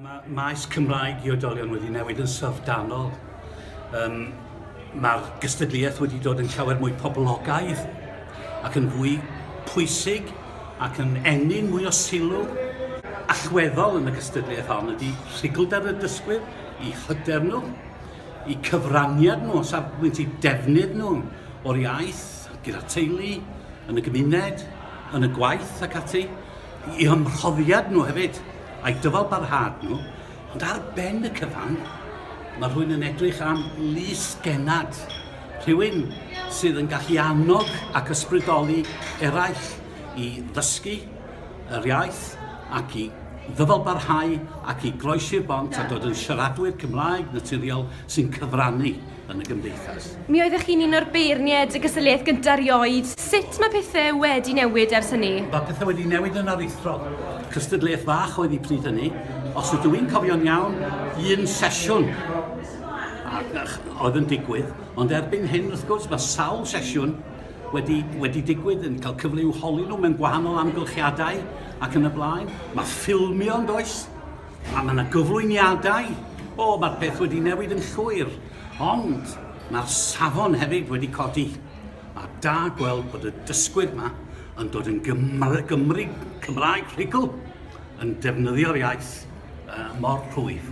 Mae maes Cymraeg i oedolion wedi newid yn syfrdanol. Um, Mae'r gystadleuaeth wedi dod yn llawer mwy poblogaidd ac yn fwy pwysig ac yn ennyn mwy o sylw allweddol yn y gystadleuaeth hon ydy rhugldeb y dysgwyr, i hyder nhw, i cyfraniad nhw, safbwynt i defnydd nhw o'r iaith, gyda teulu, yn y gymuned, yn y gwaith ac ati. i eu mhrofiad nhw hefyd, a'u dyfalbarhad nhw, ond ar ben y cyfan, mae rhywun yn edrych am lys genad, rhywun sydd yn gallu annog ac ysbrydoli eraill i ddysgu yr iaith ac i ddyfalbarhau ac i groesi'r bont a dod yn siaradwyr Cymraeg naturiol sy'n cyfrannu yn y gymdeithas. Mi oeddech chi'n un o'r beirniaid y gysylltiaeth gyda rioed. Sut mae pethau wedi newid ers hynny? Mae pethau wedi newid yn aruthrol. Cystadleuaeth fach oedd hi pryd hynny. Os ydw i'n cofio'n iawn, un sesiwn oedd yn digwydd, ond erbyn hyn, wrth gwrs, mae sawl sesiwn wedi, wedi digwydd yn cael cyfle i'w holi nhw mewn gwahanol amgylchiadau ac yn y blaen. Mae ffilmio yn does, A mae 'na gyflwyniadau. O, mae'r peth wedi newid yn llwyr. Ond mae'r safon hefyd wedi codi. Mae da gweld bod y dysgwyr yma yn dod yn Gymr Gymru Cymraeg rhugl, yn defnyddio'r iaith uh, mor rhwydd.